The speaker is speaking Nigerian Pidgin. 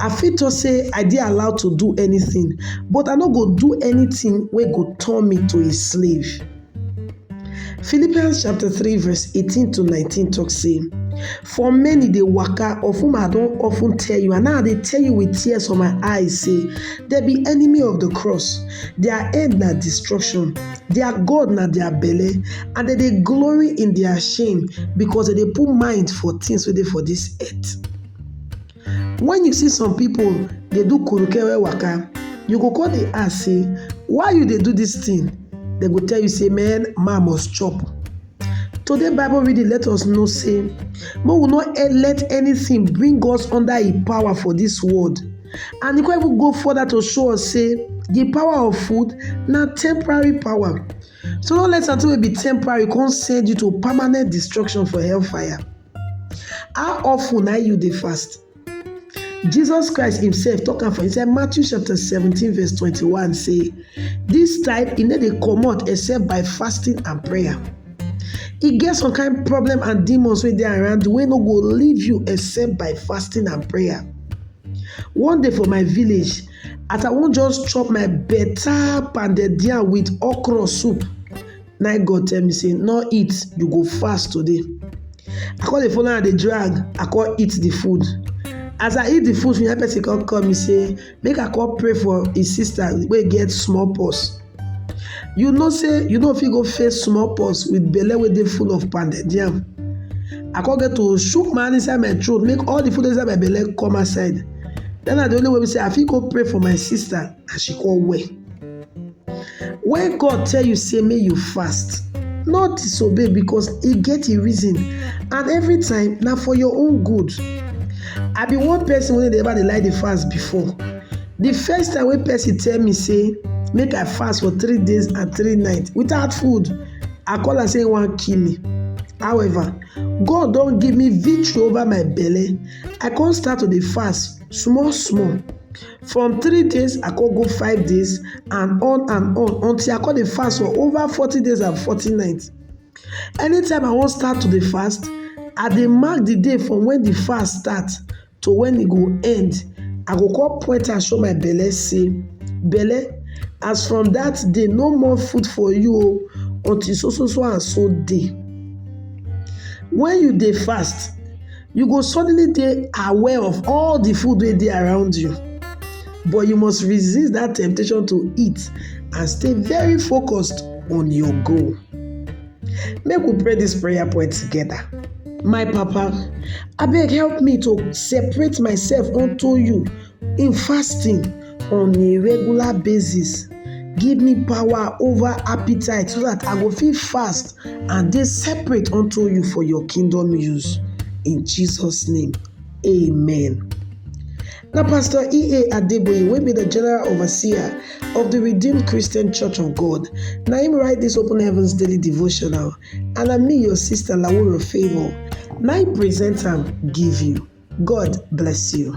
I fit talk sey I dey allowed to do anything but I no go do anything wey go turn me to a slave. Philippians chapter three verse eighteen to nineteen talk sey for many dey waka of whom I don often tell you and now I dey tell you with tears for my eyes sey there be enemy of the cross their end na destruction their God na their belle and dem dey glory in their shame because dem dey put mind for things wey dey for this earth. When you see some people dey do kurukewe waka, you go come dey ask say, why you dey do this thing? They go tell you say, man, man must chop. Today Bible reading let us know say, make we not e- let anything bring us under e power for this world. And e come even go further to show us say, the power of food na temporary power. So no let something wey be temporary come send you to permanent destruction for hellfire. How often na you dey fast? Jesus Christ himself talk am for inside Matthew chapter 17 verse 21 say, this type e no dey comot except by fasting and prayer. E get some kind problem and demons wey dey around you wey no go leave you except by fasting and prayer. One day for my village, as I wan just chop my better pounded yam with okra soup, na im God tell me say no eat you go fast today I come dey follow am dey drag I come eat the food as I eat the food finish that person come call me say make I come pray for im sister wey get small pox you know say you no fit go face small pox with belle wey dey full of pounded yam I come get to shook my hand inside my throat make all the food inside my belle come outside that na the only way wey be say I fit go pray for my sister and she come well. When God tell you say make you fast, no disobey because e get im reason and every time na for your own good. I be one person wey no dey ever dey like dey fast before. The first time wey person tell me say make I fast for three days and three nights without food, I call am say im wan kill me. However, God don give me victory over my belle, I come start to dey fast small small. from three days I come go five days and on and on until I come dey fast for over forty days and forty nights. Anytime I wan start to dey fast, I dey mark the day from when the fast start to when e go end. I go come point am show my belle say, belle as from that day no more food for you o until so so so and so day. When you dey fast, you go suddenly dey aware of all the food wey dey around you but you must resist that temptation to eat and stay very focused on your goal make we pray this prayer point together my papa abeg help me to separate myself unto you in fasting on a regular basis give me power over appetite so that I go fit fast and dey separate unto you for your kingdom use. In Jesus' name, amen. Now, Pastor E.A. Adeboye, will be the General Overseer of the Redeemed Christian Church of God, now him write this Open Heavens Daily Devotional, and I'm me, your sister Lawura Favor, now I present am give you. God bless you.